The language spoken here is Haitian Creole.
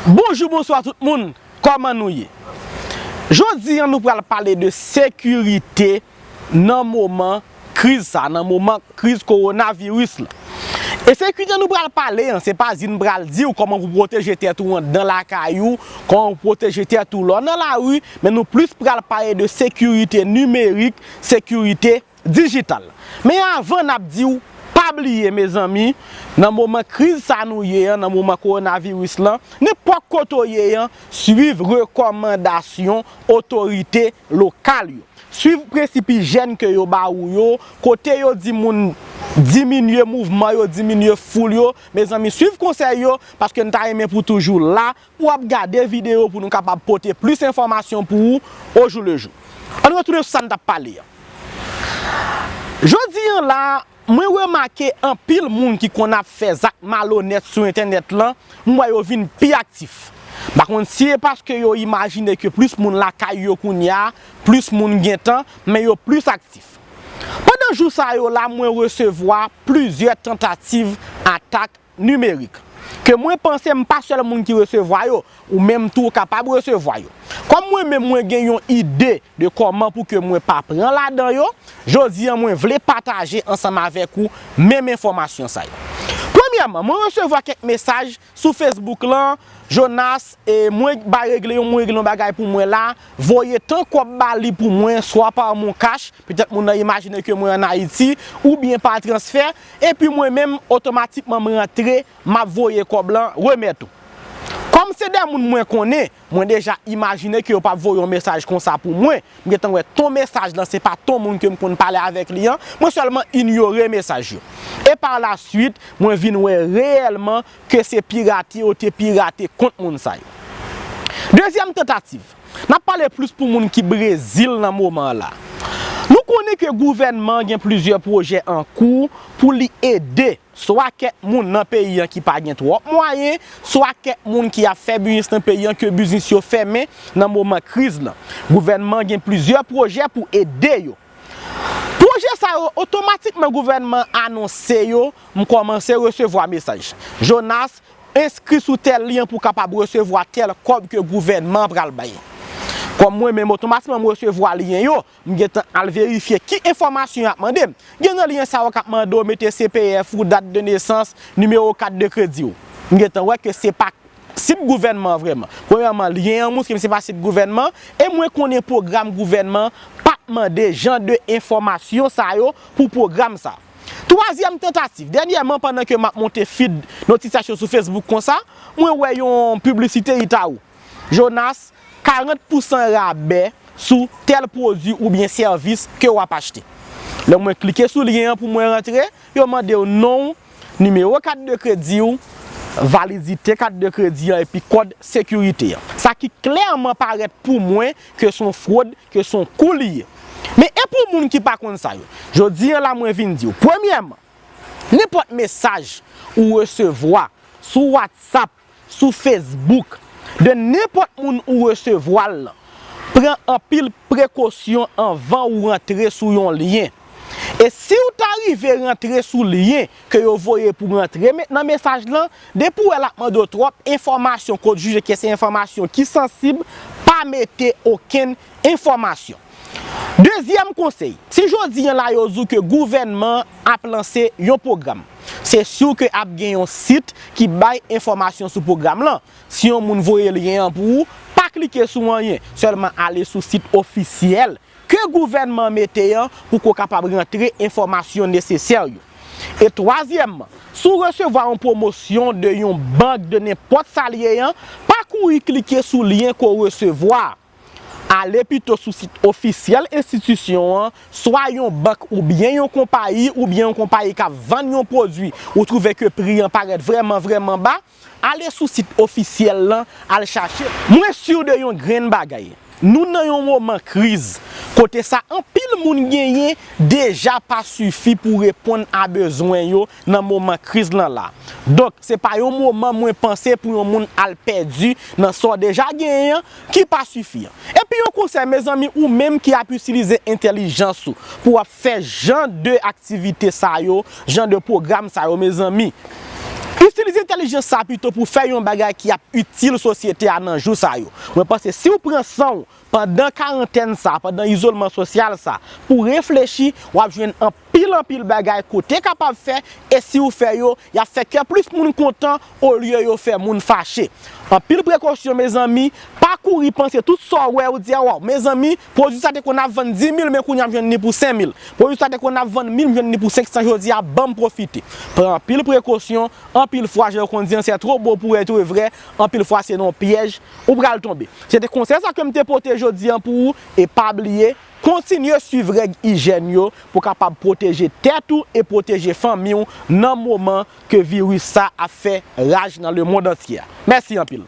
Bonjou bonswa tout moun kòman nou ye jodi an nou pral pale de sekirite nan moman kriz sa nan moman kriz korona viris la e sekirite nou pral pale an se pa di nou pral diw kòman pou pwoteje tèt ou anndan lakay ou kòman pou pwoteje tèt ou lè w nan lari men nou plis pral pale de sekirite nimerik sekirite Digital. Men avan nap diw pa bliye mezanmi nan moman kriz sa nou ye an nan moman coronavirus lan nenpòt kote w ye an swiv rekòmandasyon otorite lokal yo swiv prensip ijèn ke yo ba ou yo kote yo di moun diminye mouvman yo diminye foul yo mezanmi swiv konsèy yo paske n ta renmen pou toujou la Ou ap gade videyo pou nou kapab pote plis enfòmasyon pou ou ojoulejou. Ann retounen sou sa n t ap pale an. Jodi an la, mwen remake anpil moun ki konn ap fè zak malonèt sou entènèt lan, m wè yo vin pi aktif. M pa konn si e paske yo imajine ke plis moun lakay yo kounye a, plis moun gen tan, men yo plis aktif. Pandan jou sa yo la mwen resevwa plizyè tantativ atak Nimerik. Ke mwen panse m pa sèl moun ki resevwa yo, ou menm tou ou kapab resevwa yo. Kòm mwen menm mwen gen yon ide de kòman pou ke mwen pa pran ladan yo, jodi an mwen vle pataje ansanm avèk ou menm enfòmasyon sa yo. Premyèman, mwen resevwa kèk mesaj sou Facebook lan, Jonas, e mwen ba regle yon mwen regle yon bagay pou mwen la, voye tan kòb ba li pou mwen swa par moncash, petèt moun nan imajine ke mwen an Ayiti, oubyen par transfert, Epi mwen menm otomatikman m rantre m ap voye kòb lan remèt ou. Kòm se de moun mwen konnen, mwen deja imajine ke yo p ap voye yon mesaj konsa pou mwen, m gentan wè ton mesaj lan se pa ton moun ke m konn pale avèk li an, mwen sèlman inyore mesaj yo. E par la suite, mwen vin wè reyèlman ke se pirate yo te pirate kont moun sa yo. Dezyèm tantativ. Nap pale plis pou moun ki Brezil nan moman an la. Nou konnen ke gouvènman an gen plizyè pwojè an kou pou li ede swa kèk moun nan peyi an ki pa gen twòp mwayen, swa kèk moun ki ap fè biznis nan peyi an ke biznis yo fèmen nan moman kriz lan. Gouvènman an gen plizyè pwojè pou ede yo. Pwojè sa yo otomatikman gouvènman an anonse yo, m kòmanse resevwa mesaj. Jonas, Enskri sou tèl lyen pou w kapab resevwa tèl kòb ke gouvènman an pral bay. Kòm mwen menm otomatikman m resevwa lyen yo, m gentan al verifye ki enfòmasyon y ap mande m. Gen nan lyen sa yo k ap mande w mete CPF ou, dat de nesans, nimewo kat de kredi w. M gentan wè ke se pa sit gouvènman an vrèman. Premyèman, lyen an montre m se pa sit gouvènman e mwen konnen pwogram gouvènman pa mande jan de enfòmasyon sa yo pou pwogram sa. Twazyèm tantativ, dènyèman pandan ke map monte feed notisyasyon sou Facebook konsa, mwen wè yon piblisite Itaú. Jonas, 40 pousan rabè sou tèl pwodwi oubyen sèvis ke wap achte. Lè mwen klike sou lyen an pou mwen rantre, yo mandew nonw, nimewo kat de krediw, validite kat de kredi an epi kòd sekirite an. Sa ki klèman parèt pou mwen ke son frod, ke son kou li ye. Men e pou moun ki pa konn sa yo, jodi an la mwen vin di w, premyèman, nenpòt mesaj ou resevwa sou WhatsApp, sou Facebook, de nenpòt moun ou resevwa l lan, pran anpil prekosyon anvan ou rantre sou yon lyen. E si w ta rive rantre sou lyen, ke yo voye pou rantre nan mesaj lan, depi w wè l ap mande w twòp enfòmasyon ke w jije ke se enfòmasyon ki sansib, pa mete okenn enfòmasyon. Dezyèm konsèy, si jodi an la yo di w ke gouvènman an ap lanse yon pwogram, se siw ke ap gen yon sit ki bay enfòmasyon sou pwogram lan. Si yon moun voye lyen an pou ou, pa klike sou anyen, sèlman ale sou sit ofisyèl ke gouvènman an mete an pou ke w kapab rantre enfòmasyon nesesè yo. E twazyèmman, si w resevwa yon pwomosyon de yon bank de nenpòt sa l ye an, pa kouri klike sou lyen ke w resevwa a. Ale pito sou sit ofisyèl enstitisyon an, swa yon bank oubyen yon konpayi oubyen yon konpayi k ap vann yon pwodui ou twouve ke pri an parèt vrèman vrèman ba, Ale sou sit ofisyèl lan al chache l. Mwen sur de yon grenn bagay, nou nan yon moman kriz kote sa anpil moun genyen deja pa sifi pou reponn a bezwen yo nan moman kriz lan la. Donk se pa yon moman mwen panse pou yon moun al pèdi nan sa w deja genyen an, ki pa sifi an. Epi yon konsèy mezanmi ou menm ki ap itilize entèlijans ou pou w ap fè jan de aktivite sa yo, jan de pwogram sa yo mezanmi, itilize entèlijans sa pito pou fè yon bagay ki ap itil sosyete a nan jou sa yo. Mwen panse si w pran san w pandan karantèn sa, pandan izolman sosyal sa pou w reflechi, w ap jwenn anpil anpil bagay ke w te kapab fè e si w fè yo, Y ap fè kè plis moun kontan olye yo fè moun fache. Anpil prekosyon mezanmi, pa kouri panse tout sa w wè ou di a waw mezanmi pwodwi sa te konn ap vann 10000 men kounye a m jwenn li pou 5000, pwodwi sa te konn ap vann 1000 m jwenn li pou 500 jodi a banm pwofite pran anpil prekosyon, anpil fwa jan yo konn di an sè two bo pou etre vrè anpil fwa se nan yon pyèj ou pral tonbe. Se te konsèy sa ke m te pote jodi an pou ou e pa bliye. Kontinye swiv règ ijèn yo pou kapab pwoteje tèt ou e pwoteje fanmi w nan moman ke viris sa ap fè raj nan lemond antye a. Mèsi anpil!